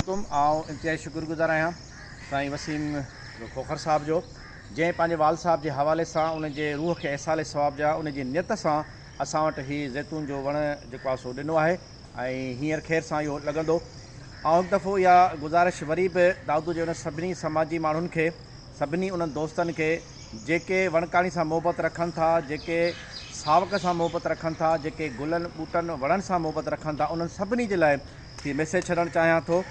عليڪم آئون انتهائي شڪر گذار آهيان سائين وسيم کوکر صاحب جو جنهن پنهنجي والد صاحب جي حوالي سان ان جي روح کي ايصال ثواب جا ان جي نيت سان اسان وٽ هي زيتون جو وڻ جيڪو آهي سو ڏنو آهي ۽ هينئر خير سان اهو لڳندو آئون هڪ دفعو اها گذارش وري به دادو جي انهن سڀني سماجي ماڻهن کي سڀني انهن دوستن کي جيڪي وڻڪاڻي سان محبت رکن ٿا جيڪي ساوڪ سان محبت رکن ٿا جيڪي گلن ٻوٽن وڻن سان محبت رکن ٿا انهن سڀني جي لاء کي ميسيج ڇڏڻ چاهيان ٿو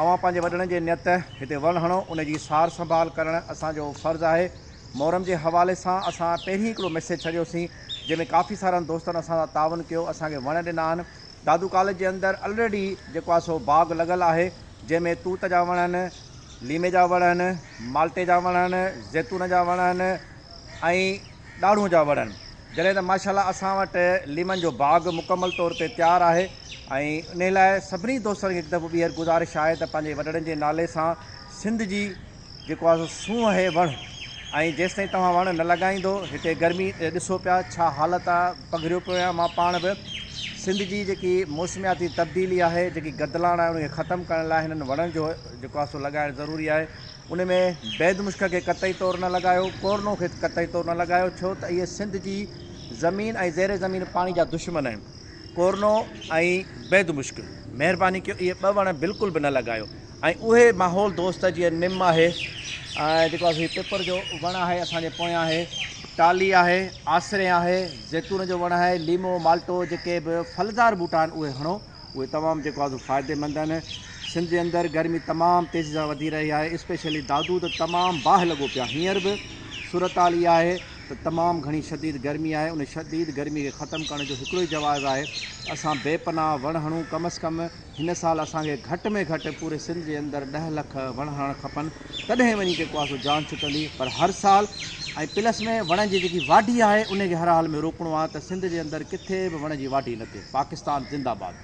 اوهان پنهنجي وڏڙن جي نيت هتي وڻ هڻو ان جي سار سنڀال ڪرڻ اسان جو فرض آهي محرم جي حوالي سان اسان پهرين هڪڙو ميسيج ڇڏيو سين جنهن ۾ ڪافي سارن دوستن اسان سان تعاون ڪيو اسان کي وڻ ڏنا آهن دادو ڪاليج جي اندر الريڊي جيڪو آهي سو باغ لڳل آهي جنهن ۾ توت جا وڻ آهن ليمي جا وڻ آهن مالٽي جا وڻ آهن زيتون جا وڻ آهن ۽ ڏاڙهون جا وڻن جڏهن ته ماشاء الله اسان وٽ ليمن جو باغ مڪمل طور تي تيار آهي ۽ انهي لاء سڀني دوستن کي هڪ دفعو ٻيهر گذارش آهي ته پنهنجي وڏڙن جي نالي سان سنڌ جي جيڪو آهي سو سونهن اهي وڻ ۽ جيستائين توهان وڻ نه لڳائيندو هتي گرمي ڏسو پيا ڇا حالت آهي پگهريو پيو آهيان مان پاڻ به سنڌ جي جيڪي موسمياتي تبديلي آهي جيڪي گدلاڻ آهي انهي کي ختم ڪرڻ لاء هنن وڻن جو جيڪو آهي سو لڳائڻ ضروري آهي ان ۾ بيد مشڪ کي قطعي طور نه لڳايو، ڪورنو کي قطعي طور نه لڳايو ڇو ته اهي سنڌ جي زمين ۽ زير زمين پاڻي جا دشمن آهن. ڪورنو ۽ بيد مشڪ مهرباني ڪيو اهي ٻه وڻ بلڪل به نه لڳايو ۽ اهي ماحول دوست جيئن نم آهي ۽ جيڪو هي پپر جو وڻ آهي اسان جي پويان آهي ٽالي آهي آسرين آهي زيتون جو وڻ آهي ليمو مالٽو جيڪي به ڦلدار ٻوٽا آهن اهي هڻو اهي تمام جيڪو آهي سو فائديمند آهن سنڌ جي اندر گرمي تمام تيزي سان وڌي رهي آهي اسپيشلي دادو ته تمام باهه لڳو پيو آهي هينئر به صورتحال اها آهي ته تمام گهڻي شديد گرمي آهي ان شديد گرمي کي ختم ڪرڻ جو هڪڙو ئي جواز آهي اسان بي پناهه وڻ هڻون ڪم از ڪم هن سال اسان کي گهٽ ۾ گهٽ پوري سنڌ جي اندر ڏهه لک وڻ هڻڻ کپن تڏهن وڃي جيڪو آهي سو جان ڇٽندي پر هر سال ۽ پلس ۾ وڻن جي جيڪي واڍي آهي انهي کي هر حال ۾ روڪڻو آهي ته سنڌ جي اندر ڪٿي به وڻ جي واڍي نه ٿئي پاڪستان زنده باد.